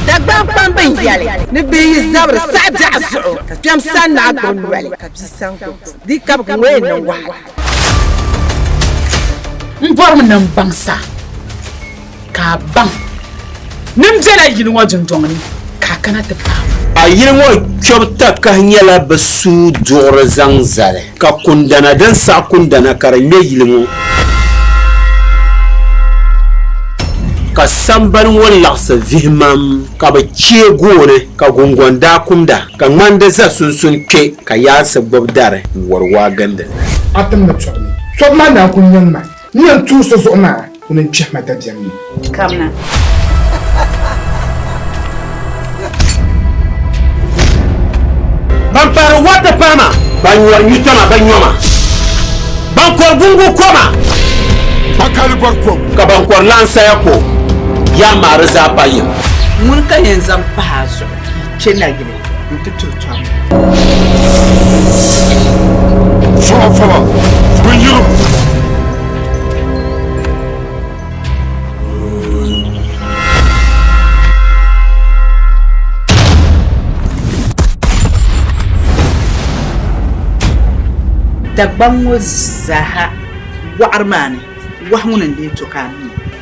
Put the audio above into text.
Dagbani kpamba n yɛli ni bɛ yi zabiri saɣi biɛɣu zuɣu ka kpɛm sani ni a gbubi noli ka bia sani gbubi buŋ di kabiga ŋɔ yɛn niŋ wahala. N bɔrimi ni n baŋ sa ka a baŋ ni n bela yili ŋɔ dundɔŋ ni ka a kana ti paai ma. A yili ŋɔ kpɛbu takahi nyɛla bɛ suui duɣiri zaŋ zali. Ka kundana din saɣi kundana ka di ŋmɛ yili ŋɔ. Ka sambani ŋɔ laɣisi vihimam, ka bɛ chɛ gooni, ka gungɔŋ daa kumda, ka ŋmandi za sunsun kpe, ka yaansi gbibi dari n-wari waa gindi li. Atim ni tɔbu ni. Tɔbu maa daa kul niŋ ma. N ni yɛn tuhi so zuɣu maa, o ni kpɛhi ma dabiɛm ni. Kamina. Ban paari wata pahi ma. Ban nyɔri nyuta ma, ban nyɔ ma. Ban kɔri gungu ko ma. Ban kali bɔri ko. Ka ban kɔri lan saya ko. Yaa maa di zaa pa yim. Ŋuni ka yɛn zaŋ pahi a zuɣu ka yi chɛ nayili? n ti tuhi tɔm. Sɔɣa fɔlɔ, bin yilim. Dagbaŋ ŋɔ zaaha wɔɣiri maa ni, wahu ŋuni n-lee to ka a mi?